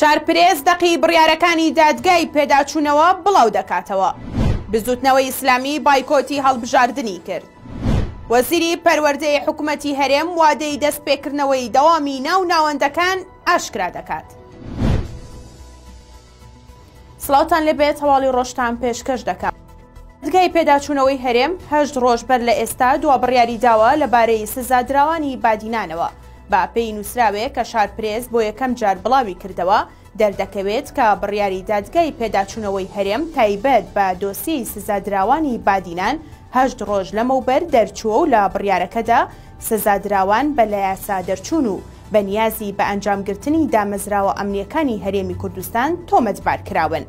شارپرێس دەقی بڕیارەکانی دادگای پێداچوونەوە بڵاو دەکاتەوە. بزوتنەوەی ئیسلامی بایکۆتی هەڵبژاردنی کرد. وەزیری پەروەردەی حکوومەتی هەرێم وادەی دەست پێکردنەوەی دەوامی ناو ناوەندەکان ئاشکرا دەکات. سڵاوتان لێبێت هەواڵی ڕۆژتان پێشکەش دەکەم. دەزگای پێداچوونەوەی هەرێم هەشت ڕۆژ بەر لە ئێستا دوا بڕیاری داوە لەبارەی سزادراوانی بادینانەوە. بە پێی نووسراوێک کە شارپرێس بۆ یەکەم جار بڵاوی کردەوە، دەردەکەوێت کە بڕیاری دادگای پێداچوونەوەی هەرێم تایبەت بە دۆسیەی سزادراوانی بادینان هەشت ڕۆژ لەمەوبەر دەرچووە و لە بڕیارەکەدا سزادراوان بە لایاسا دەرچوون و بەنیازی بە ئەنجامگرتنی دامەزراوە ئەمنییەکانی هەرێمی کوردستان تۆمەتبار کراون.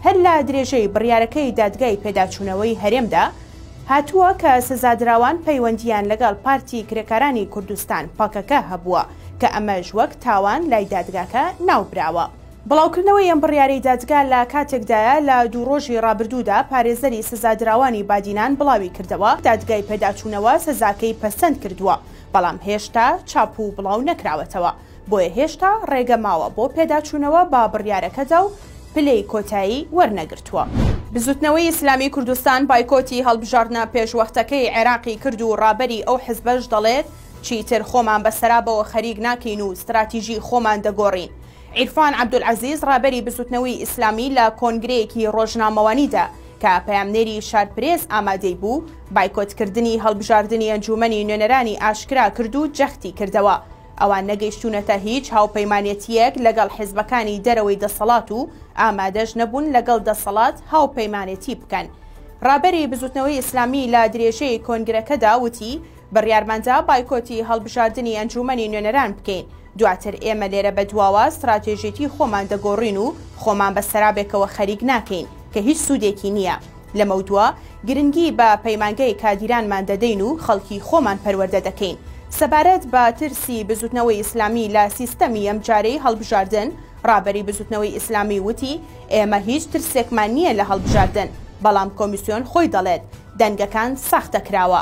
هەر لە درێژەی بڕیارەکەی دادگای پێداچوونەوەی هەرێمدا هاتووە کە سزادراوان پەیوەندییان لەگەڵ پارتی کرێکارانی کوردستان، پەکەکە، هەبووە، کە ئەمەش وەک تاوان لای دادگاکە ناوبراوە. بڵاوکردنەوەی ئەم بڕیارەی دادگا لە کاتێکدایە، لە دوو ڕۆژی ڕابردوودا پارێزەری سزادراوانی بادینان بڵاویکردەوە، دادگای پێداچوونەوە سزاکەی پەسەند کردووە، بەڵام هێشتا چاپ و بڵاو نەکراوەتەوە، بۆیە هێشتا ڕێگە ماوە بۆ پێداچوونەوە بە بڕیارەکەدا و پلەی کۆتایی وەرنەگرتووە. بزوتنەوەی ئیسلامی کوردستان بایکۆتی هەڵبژاردنە پێشوەختەکەی عێراقی کرد و ڕابەری ئەو حزبەش دەڵێت، چیتر خۆمان بە سەرابەوە خەریک ناکەین و ستراتیژی خۆمان دەگۆڕین. عیرفان عەبدولعەزیز ڕابەری بزوتنەوەی ئیسلامی لە کۆنگرەیەکی ڕۆژنامەوانیدا کە پەیامنێری شارپرێس ئامادەی بوو، بایکۆتکردنی هەڵبژاردنی ئەنجوومەنی نوێنەرانی ئاشکرا کرد و جەختی کردەوە، ئەوان نەگەیشتوونەتە هیچ هاوپەیمانێتییەک لەگەڵ حزبەکانی دەرەوەی دەسەڵات و ئامادەش نەبوون لەگەڵ دەسەڵات هاوپەیمانێتی بکەن. رابەری بزوتنەوەی ئیسلامی لە درێژەی کۆنگرەکەدا وتی، بڕیارماندا بایکۆتی هەڵبژاردنی ئەنجوومەنی نوێنەران بکەین، دواتر ئێمە لێرە بەدواوە ستراتێژیی خۆمان دەگۆڕین و خۆمان بە سەرابێکەوە خەریک ناکەین، کە هیچ سوودێکی نییە. لەمەودوا گرنگی بە پەیمانگەی کادیرانمان دەدەین و خەڵکی خۆمان پەروەردە دەکەین. سەبارەت بە ترسی بزوتنەوەی ئیسلامی لە سیستەمی ئەمجارەی هەڵبژاردن، ڕابەری بزوتنەوەی ئیسلامی وتی، ئێمە هیچ ترسێکمان نییە لە هەڵبژاردن، بەڵام کۆمیسیۆن خۆی دەڵێت دەنگەکان ساختە کراوە.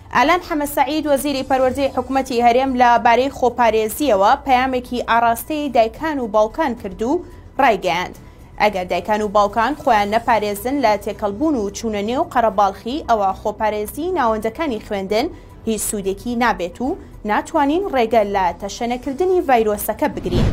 ئالان حەمەسەعید وەزیری پەروەردەی حکومەتی هەرێم لە بارەی خۆپارێزییەوە پەیامێکی ئاڕاستەی دایکان و باوکان کرد و ڕایگەیاند، ئەگەر دایکان و باوکان خۆیان نەپارێزن لە تێکەڵبوون و چوونە نێو قەرەباڵخی ئەوا خۆپارێزیی ناوەندەکانی خوێندن هیچ سوودێکی نابێت و ناتوانین ڕێگە لە تەشەنەکردنی ڤایرۆسەکە بگرین.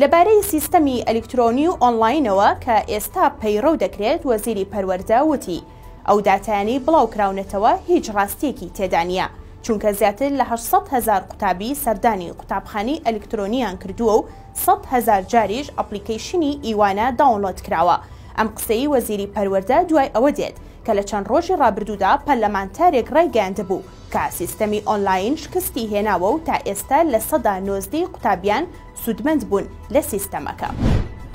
لە بارەی سیستەمی ئەلیکترۆنی و ئۆنلاینەوە کە ئێستا پەیڕەو دەکرێت وەزیری پەروەردە وتی، ئەو داتایانەی بڵاوکراونەتەوە هیچ ڕاستییەکی تێدا نییە، چونکە زیاتر لە هەشت سەد هەزار قوتابی سەردانی قوتابخانەی ئەلیکترۆنییان کردووە و سەد هەزار جاریش ئەپڵیکەیشنی ئیوانە داونڵۆد کراوە. ئەم قسەی وەزیری پەروەردە دوای ئەوە دێت کە لە چەند ڕۆژی ڕابردوودا پەرلەمانتارێک ڕایگەیاندبوو کە سیستەمی ئۆنلاین شکستی هێناوە و تا ئێستا لە سەدا نۆزدە ی قوتابیان سوودمەند بوون لە سیستەمەکە.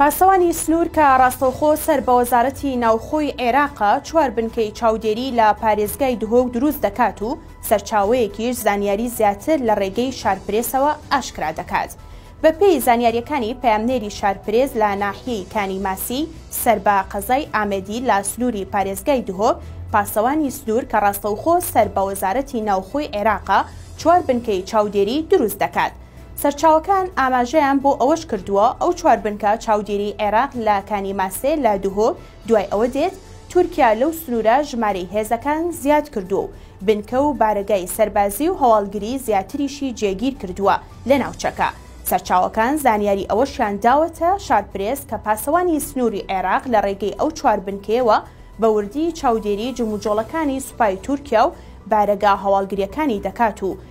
پاسەوانی سنوور کە ڕاستەوخۆ سەر بە وەزارەتی ناوخۆی عێراقە، چوار بنکەی چاودێری لە پارێزگای دهۆک دروست دەکات و سەرچاوەیەکیش زانیاری زیاتر لە ڕێگەی شارپرێسەوە ئاشکرا دەکات. بەپێی زانیارییەکانی پەیامنێری شارپرێس لە ناحیەی کانی ماسی سەر بە قەزای ئامێدی لە سنووری پارێزگای دهۆک، پاسەوانی سنوور کە ڕاستەوخۆ سەر بە وەزارەتی ناوخۆی عێراقە، چوار بنکەی چاودێری دروست دەکات. سەرچاوەکان ئاماژەیان بۆ ئەوەش کردووە، ئەو چوار بنکە چاودێریی عێراق لە کانی ماسێ لە دهۆک دوای ئەوە دێت، تورکیا لەو سنوورە ژمارەی هێزەکان زیاد کردووە و بنکە و بارەگای سەربازی و هەواڵگری زیاتریشی جێگیر کردووە لە ناوچەکە. سەرچاوەکان زانیاری ئەوەشیان داوەتە شارپرێس کە پاسەوانی سنووری عێراق لە ڕێگەی ئەو چوار بنکەیەوە بە وردی چاودێریی جموجۆڵەکانی سوپای تورکیا و بارەگا هەواڵگرییەکانی دەکات و